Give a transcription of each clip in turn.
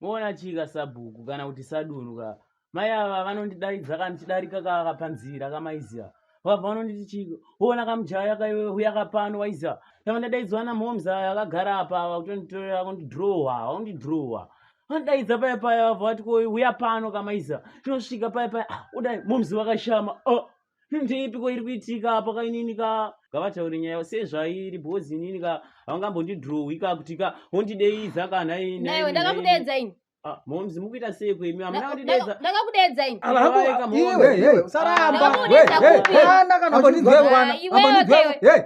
moona chii kasabhuku kana kuti sadunhu ka mai ava vanondidaidza kandichidarika kaka panzira kamaiziva vabva vanonditi chii woona kamujaya kauya kapano waiziva tava ndadaidzwa namhoms aya akagara apa ava kutonditorera kundidrowa vaundidrowa vandaidza paya paya vabva vati koi uya pano kamaiziva tinosvika paya paya ah, udai moms vakashama oh. ndeipiko iri kuitika apa kainini ka ngavataure nyaya sezvairi bhozi inini ka havangambondidrowi ka kuti ka wondideiza ka nhainaiwe ndakakudeedza ini ah, momzi mukuita sei kwemi amuna kundidedza ndakakudeedza ini iwe saramba kana uchidzoka iwe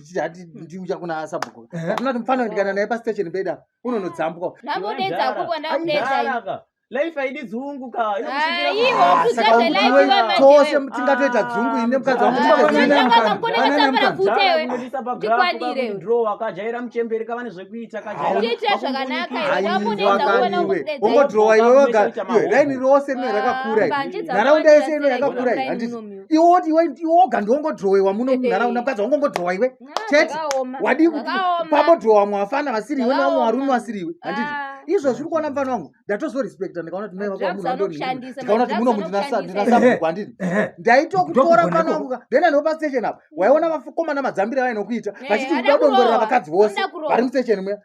tichiti hati ndiuya kuna sabhuku atinati mufana ndikana naye pastation beda unonodzambwa ndambodedza kuko ndakudedza life haidi dzungu ka tose tingatoita dzungu ine mukadzi wakajaira muchemberi kavane zvekuita kaongodhirowa iwe wagaraini rose ine rakakura nharaunda yese ine rakakura handii iwe woti iwe iwe woga ndiwongodrowewa muno munharaunda mukadzi wangu ongodrowa iwe chete wadii kuti pamodrowa vamwe vafana vasiri iwe nevamwe varume vasiri iwe handiti izvo zviri kuona mfana wangu ndatozorespecta ndikaona kuti mai vako vamunhu vandondikaona kuti muno mundinasabhuku handiti ndaitokutora mfana wangu then anopa station apa waiona vakomana madzambire vainokuita vachiti uda kudongorera vakadzi vose vari mustation muya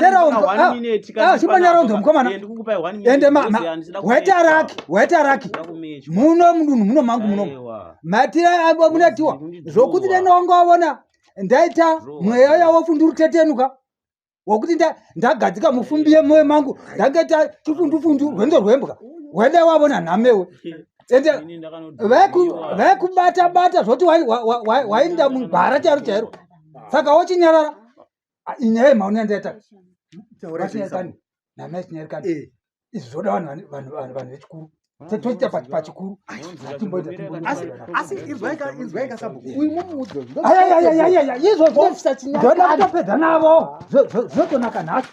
teraondoachipanyaronzomkomanaendewaitarakwaitarak muno mudunhu muno mangu muno matira amunatiwa zvokuti denongoona ndaita mweya yawofu ndiri tetenuka wokuti ndagadzika mufumbi yemoyo mangu ndangaita chifundufundu rwendo rwembwa wende wavona nhamewe ende vekubata bata zvoti wainda mugwara chairo chairo saka wochinyarara nyaya yemhauni yandaita vachinyarikani namai chinyarikani eh. izvi zvoda vanhu vechikuru toita pachikuru asi inzwaika sabhuku uyu mumuudzo izvozvo ndoda kutopedza navo zvotonaka nhacho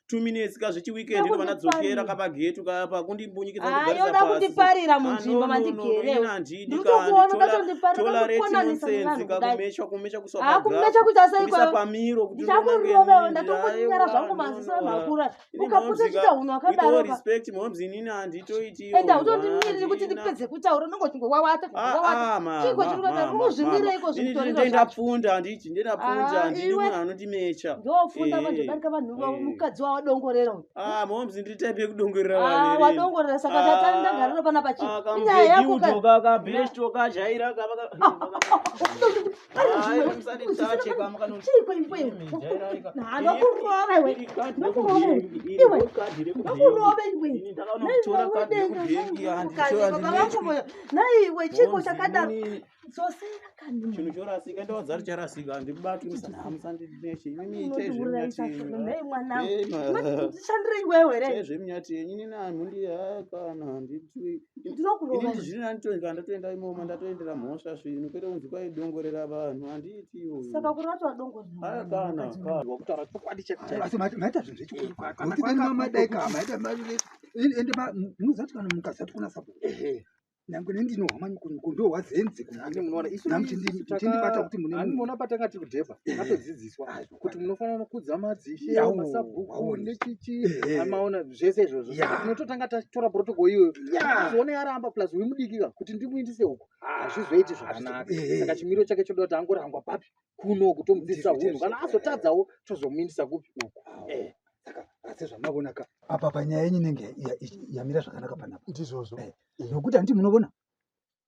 two minutes ka zvechi weekend ndo vanadzokera ka pagetu ka pa kundimbunyikidza ah, ndigara yoda kundiparira ah, munzvimbo mandigere ndikuona katondiparira kukonanisa nevanhu kumesha kumesha kuswa ah kumesha kuita sei kwa pamiro kuti ndakurova ndatokunyara zvangu manzisa makura ukaputa chita hunhu akadaro respect momzi nini anditoiti enda utondimiriri kuti ndipedze kutaura unenge uchingowawata chiko chiri kuenda uzvimire iko zvikutorindapfunda handiti ndinapfunda ah, handiti munhu anondimecha ndofunda eh, vanhu darika vanhu vavo eh. mukadzi wawadongorera uyu ah, moms nditaipe kudongorera ah, wadongorera saka tatandagara panapa chii nyaya yako kabesto kajaira naiwe chiko chakadaro chinhu chorasika ndawadza kuti charasika handibatwishandirei wewe re zvemunyati yenyu nina mhundi yakana handitwi ndinokurova ini zvino ndatoenda ndatoenda imoma ndatoendera mhosva zvino kwete kunzi kwai dongorera vanhu handiiti iyoyo saka kuri vatova dongorera kana kana wakutaura chokwadi chekuchaasi maita zvinhu zvechikuru kuti kana mamadai ka maita ende munozati kana mukazati kuna sabo nyange nendinohama ndohwazenzi kunamuchindibata kuti munemuona patanga tiri kudhebha atodzidziswa kuti munofanira kukudza madzishe Yawo, masabhuku waona. nechichi Ehe. amaona zvese izvozvo Ya. Saka tinototanga tatora protocol iyoyo Yeah. tizoone yaramba plus uyu mudikika kuti ndimuindise uko hazvizoiti zvakanaka Ehe. saka chimiro chake choda kuti angorangwa papi kuno uku tomudzidzisa Ndizvo hunhu kana chaizvo. azotadzawo tozomuindisa kupi uku Eh, saka asi zvamavona ka apa panyaya yenyu inenge ya- ya- yamira zvakanaka panapa ndizvozvo Eh, nokuti handiti munovona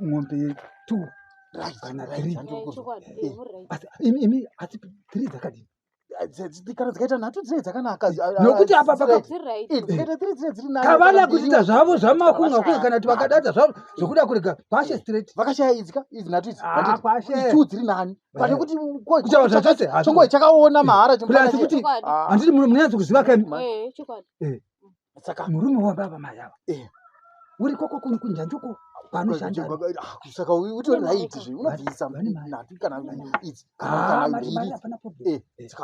mombe two kana three eh, asi three dzakadini kana dzikaita nhatu dzine dzakanaka nokuti apa pakavana kuita zvavo zvamakunga kuya kana kuti vakadadza zvavo zvokuda kurega kwashe straight vakashaya idzika idzi nhatu idzi ah, two dziri nani pane kuti kuchava zvachose chongoe chakaona mahara chomasi kuti handiti munonyanzi kuziva kani saka murume wababa mai ava eh. uri koko kuni kunjanjoko panoshandasaka ah, utori raiti zve unobvisa nhatu kana idzi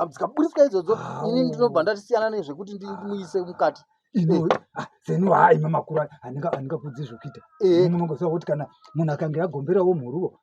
dzikaburiswa eh, idzodzo ah, ini ndinobva oh. ndatisiyana nezvekuti ndimuise mukati eh. ah, zenu haa ima makuru andingakudzi zvokuita munongoziva kuti kana munhu akange agomberawo mhuruwo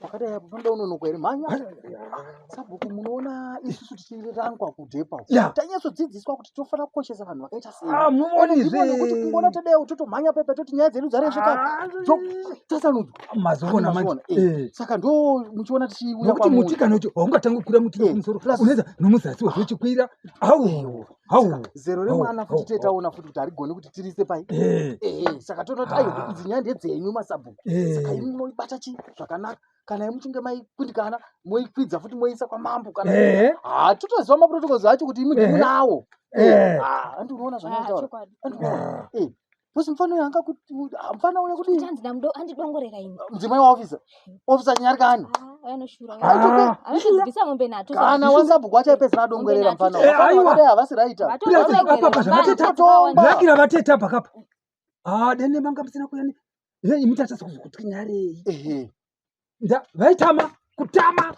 pakadai apo panoda unonoka here mhanya sabhuku munoona isusu tichirangwa kudhepa tanyatsodzidziswa kuti tofanira kukoshesa vanhu vakaita seimuonizvekuti ah, kungoona tadaiwo totomhanya pepa toti nyaya dzedu dzarezvekatasanudzwa saka ndo muchiona tichiuya muti kana kuti haungatangi kukwira muti nomusoro uneza nomuzasi wezvochikwira awo zero remwana futi tiye taona futi kuti harigoni kuti tirise pai eh. Eh, eh, saka toona kuti ayo idzi nyaya ndedzenyu masabhuku saka imi moibata chii zvakanaka kana imuchinge maikundikana moikwidza futi moisa kwamambo kana ha totoziva maprotocols acho kuti imi ndimunawo andi unoona zvanoitaura Boss mfana uyo anga kuti mfana uyo kuti Tanzi namdo andidongorera ini. mudzimai wa officer. Officer nyarikani. Ah, anoshura. Ah. Anoshubisa mombe nato. Kana wasabhuku achapedzera adongorera mfana. Eh, aiwa. Havasi right. Apa apa zvavateta. Lucky ravateta pakapa. Ah, dene manga musina kuyani. Yei mutachasa kuzokutwinyarei. Ehe. vaitama kutama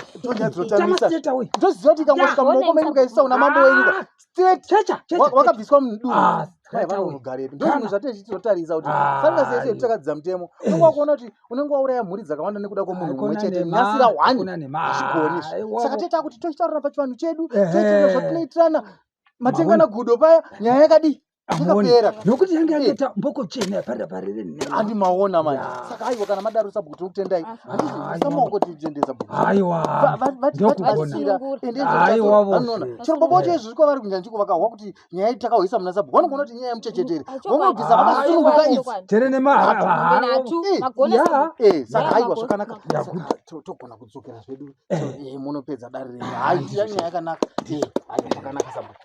ndozoti ikangosvika mumaoko menyu mukaisa una mambo wenyika ah, straighwakabviswa mudurugare ndozvinhu zvatee chitotarisa kuti ah, fanasi yese yekutakadzidza mutemo eh. unenge wakuona kuti unenge wauraya mhuri dzakawanda nekuda kwemunhu mumwe chete nasira hwani hazvigoni saka toita kuti tochitaurana pachivanhu chedu toitirana zvatinoitirana matengana gudo paya nyaya yakadii hamuoni nokuti yange yatoita eh. mboko chena yaparira parere handi maona manje saka aiwa kana madaro sabhuku tinokutendai handisamaoko tiendesa bhukuaiwavachirombo bocho izvi zviko vari kunyanji kuvakahwa kuti nyaya iti takahwisa muna sabhuku vanogona kuti nyaya yemuchechetere vamagisa vakasununguka izi tere nemahaaasaka eh, eh, aiwa zvakanaka togona kudzokera zvedu munopedza dare renyu haiiya nyaya yakanaka aiwa zvakanaka sabhuku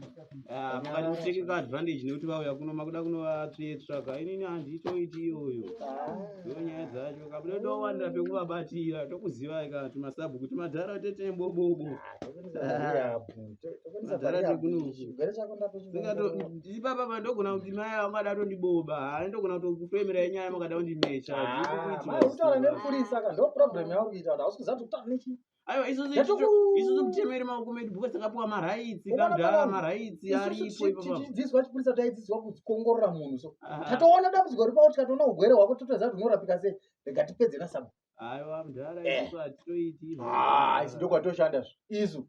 mukatikutekeka advantage nekuti vauya kuno makuda kunovatsvetsvaka inini handitoiti iyoyo ndo nyaya dzacho kabuda towanira pekuvabatira tokuzivai kati masabhuku timadhara tete bobobo ipapa pandogona kuti mai avo vangada tondiboba haa ndogona kutokufemera yenyaya makada kundimecha aiwa isusu kutemeri maoko medu because takapiwa maraitsi kamdara maraitsi aripoiidzidziswa chipurisa taidzidziswa kuongorora munhu so ah. tatoona dambudziko ripa kuti tatoona ugwere hwako totoziva kuti unorapika sei rega tipedze nasabhuaiwa mdara eh. isusu hatitoiti ah, isi ndokwatoshanda zvo isu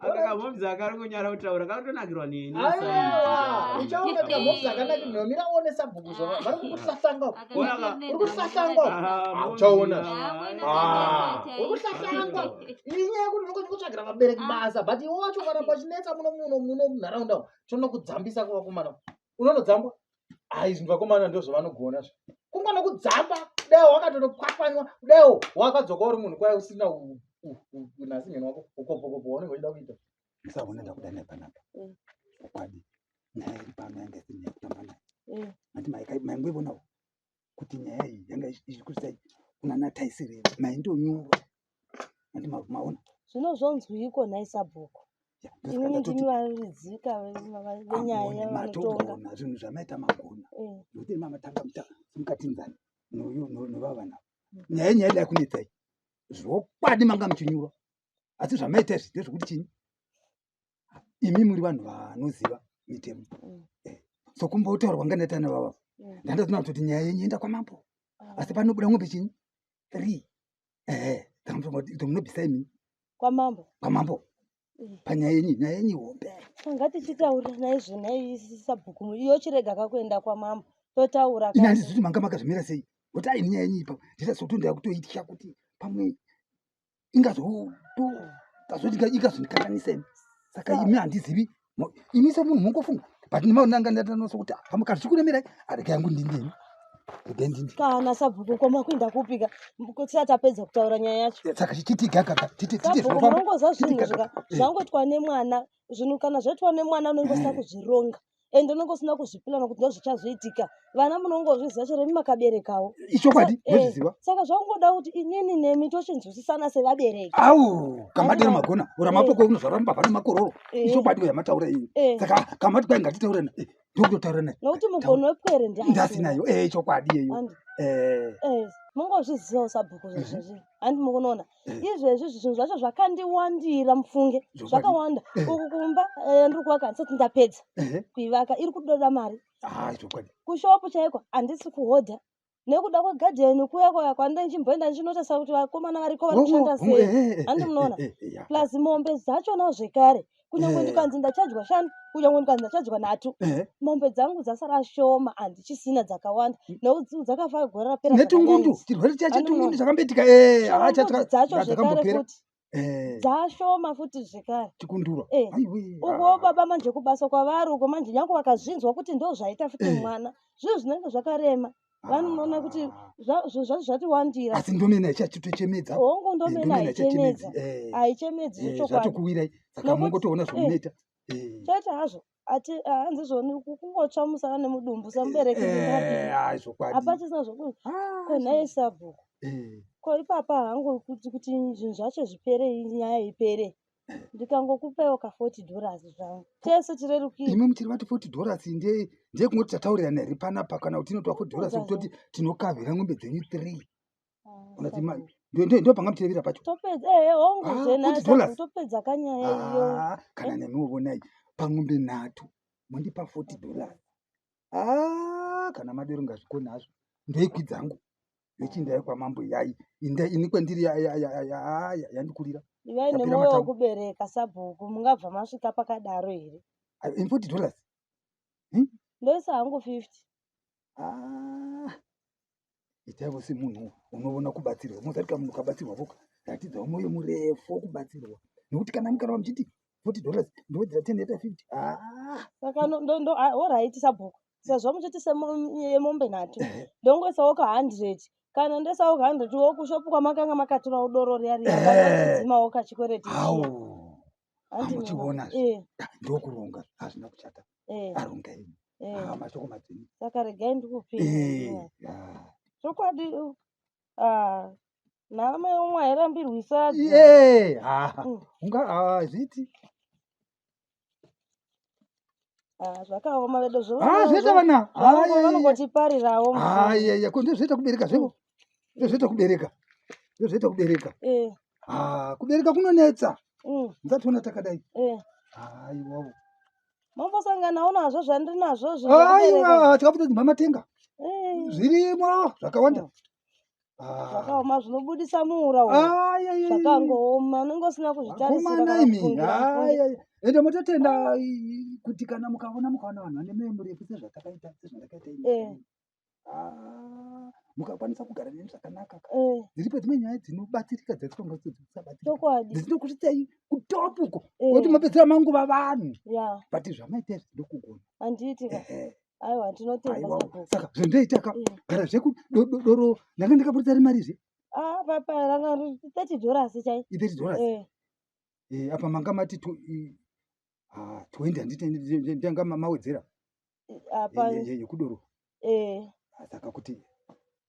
akakamomzi akari kunyara kutaura kakutonakirwa neni uchaona kamomzi akanakirwa mira uone sabhuku zvavo vari kukusahlanga uri kusahlanga uchaona uri kusahlanga inyaya yekuti unokwanisa kutsvagira vabereki basa but iwe wacho kana pachinetsa muno muno muno munharaunda tonokudzambisa kuvakomana unonodzambwa ayi zvinhu vakomana ndozvavanogona zvo kungona kudzamba kudaiwo wakatonokwakwanwa kudaiwo wakadzoka uri munhu kwai usina unasi nyeni wako ukopokopo waunenge uchida kuita sa unoda kuda naye panapa mm. ukwadi naye iri pano yange sine kutamba naye mm. ati maika maingoivonawo kuti nyaya iyi yanga ichikusai kunana taisire maindonyura andi maona zvino zvonzwiiko nhai sabhuku inini ndimi varidzika venyaya vanotonga zvinhu zvamaita magona eh. nokuti mamatanga mukatinzani novavana mm. nyaya nyaya ida kunetsai zvokwadi manga muchinyura asi zvamaita izvi ndezvokuti chini imi muri vanhu vanoziva mitemo mm. eh, so kumbotaurwa nganatana vava mm. ndandatona kutoti nyaya yenyu enda kwamambo ah. asi panobuda ngombe chinyi three ehe tomunobisa imi kwamambo kwamambo eh. panyaya yenyu nyaya yenyu hombe ah, ngatichitaura naye zvenai sabhuku iyo chirega kakuenda kwamambo totaura ini handizi kuti manga makazvimira sei kuti aini nyaya yenyu ipa ndita sokuti ndava kutoitya kuti pamwe ingazotazoti ikazondikanganisa ini saka imi handizivi imi semunhu mongofunga but ndimaonanga ndatanosa kuti pamukati ah, zvikuremerai arega yangu ndindini kana sabhuku koma kuinda kupika tisati tapedza kutaura nyaya yacho saka titigaaaongoza zvinhu zvangoitwa nemwana zvinhu kana zvaitwa nemwana unenge usina kuzvironga and unenge usina kuzvipilana kuti ndozvichazoitika vana munongozviziva chero imi makaberekawo ichokwadi eh, nozviziva saka zvakungoda kuti inini nemi tochinzwisisana sevabereki au kamadero magona ura eh. mapoko unozvara mubaba nemakororo eh. ichokwadi uya mataura iyi saka kamati kwai ngatitaure naye ndokutotaura naye nokuti mugono wepwere ndasinayo e ichokwadi yeyo mungozvizivawo sabhuku zvezvezvi handi mukunoona izvezvi zvinhu zvacho zvakandiwandira mufunge zvakawanda eh. uku kumba eh, ndiri kuvaka handisati ndapedza kuivaka iri kudoda mari ah, kushopu chaiko handisi kuhodha nekuda kwegadheni kuya kwaya kwandinchimboenda ndichinotesa kuti vakomana variko vari kushanda sei handi munoona plus mombe dzachona zvekare kunyange Eh. ndikanzi ndachajwa shanu kunyange ndikanzi ndachajwa nhatu Eh, mombe dzangu dzasara shoma handichisina dzakawanda nekuti dzakafa gore rapera netungundu zvakanyanyisa. chirwere chacho Ano- tungundu chakambetika eh, Shoma hacha mbudzi dzacho zvekare dzakambopera futi Eh, dzashoma futi zvekare chikundura Eh. aiwe uko baba manje kubasa kwavari uko manje nyange vakazvinzwa kuti ndo zvaita futi Eh. mwana zvinhu zvinenge zvakarema vanoona kuti zvati wandira asi ndomena ichachitochemedza hongu ndomena haichemedzi haichemedzi zvochokwadi saka mongotoona zvomuneta chete hazvo hanzi zvoni kungotsva musana nemudumbu samubereki hapachisina zvokuti ko nhaye sabhuku ko ipapa hangu kuti zvinhu zvacho zvipere nyaya ipere ndikangokupewo ka 40 dollars zvangu tese tirerukire imwe mutiri vati 40 dollars ndeye ndeye kungoti tataurirana here panapa kana kuti inotiwa 40 dollars kutoti tinokavhira ngombe dzenyu three unati ah, ndo panga mutirevira pacho topedza ehe hongu ah, zvenaa topedza kanyaya iyo ah, kana eh? nemiwo vonai pangombe nhatu mondipa 40 dollars aa kana madero ngazvikoni hazvo ndoikwi dzangu yechindai kwamambo yai inda ini kwendiri yandikurira ivai nemoyo wekubereka sabhuku mungabva masvika pakadaro here in forty dollars hmm? ndoisa hangu fifty ah, itaivo semunhu unovona kubatsirwa mozarika munhu ukabatsirwa voka ratidzawo moyo murefu wokubatsirwa nekuti kana mukarava muchiti 40 dollars ndowedzera 10 yaita 50 ah saka no- ndo- ndo- ah, alright sabhuku sezvo muchiti semombe nhatu ndongoisawo ka 100 kana ndoisawo ka 100 wo kushopu kwamakanga makatorawo doro riya riya Eh. kanachidzimawo kachikwereti au Handi muchiona mwana. Eh, ndokuronga hazvina kuchata eh, aronga ini eh. Ah, mashoko madzima saka regai ndikupinda Eh, ah. chokwadi uh, ah, naamai umwe airambirwi sadza ye haa Mm. unga hazviti Ah, zvakaoma vedo haa zvoita vana Haa, vanongotiparirawo haa yeye ko ndozvoita kubereka zvevo ndozvoita kubereka ndozvoita kubereka Eh, haa kubereka kunonetsa mm, ndationa takadai eh. haa iwawo mambosanganawo nazvo zvandiri nazvo zvinokubereka. aiwa tikakutodzimba matenga Eh, zvirimo zvakawanda Ah. zvakaoma zvinobudisa muura uyu Ah, yeah, yeah, yeah. zvakangooma unenge usina kuzvitarisira Vakomana kana imi. kufungira Ah, mufungi. yeah, yeah. ende mototenda i- kuti kana mukaona mukaona vanhu vane mwoyo murefu sezvatakaita sezvatakaita ini. Eh. Ah, mukakwanisa kugara neni zvakanaka ka. Eh, dziripo dzimwe nyaya dzinobatsirika dzatitonga dzisabatsirika chokwadi dzinokutisai kutopuko Eh. kuti mapedzera manguva vanhu ya but zvamaita izvi ndokugona handiti ka Ehe. Aiwa tinotenda Aiwa. sabhuku. saka zvandaitaka Mm. gara zveku do- do- doro ndanga ndakaburitsa ri mari zve Ah papa ranga ri 30 dollars chai. ithirty dollars Eh. Eh, apa manga mati to i- ah, twenty handiti ndanga ma- mawedzera Apa ye- ye- yekudoro eh Ah, saka kuti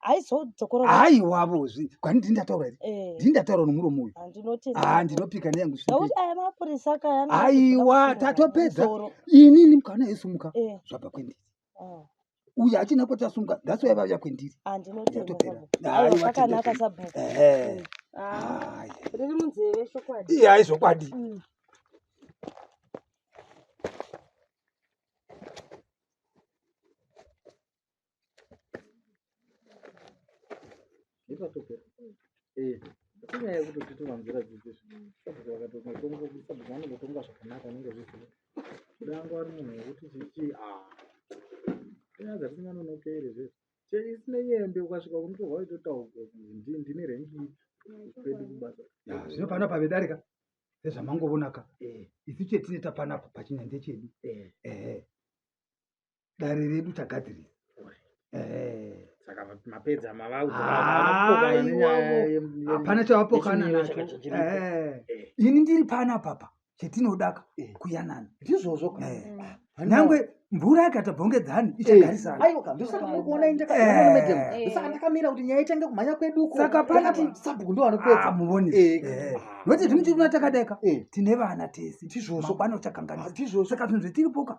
aizodzokorora haiwavo zvi kwani ndini ndataura here eh. ndini ndataura nomuromo uyu ah, ah, ndinopika neyangu aiwa tatopedza inini mukana yesumuka eh. zvabva kwendiri ah. uyu achina kuti asumuka that's why vauya kwendiri yatoperatoperakanaka sabhuku eh. riri munzeve chokwadi iye aizvokwadi mm. nepatopera eh, inyaya yekuti titova nzira dzidzi sabhuku vakatomatonga kuti sabhuku vanongotonga zvakanaka anenge zviziva kudango ari munhu wekuti chichi a ah. inyaya dzatisinganonokeri zvese cheisine yembe ukasvika unotorwa itotaurwa ndine rengi kwedu kubasa zvino pano pavedarika sezvamangovonaka eh. isu chetine tapanapa pachinyanje chedu eh. ehe dare redu tagadzirisa hapana chavapokana nacho eh. eh. ini ndiri pana papa chetinodaka eh. kuyanana ndizvozvo nyangwe mvura yakata bhongedzani ichagarisanaaiwakandosakakuonaindakaakamira kuti nyaya itange kumhanya kweduko saka panati sabhuku ndovanopedza ah, muvoni nokuti ah. zvimwe chiruna takadeka tine vana tese tizvozvo pano chakanganisa tizvozvo saka zvinhu zvetiripoka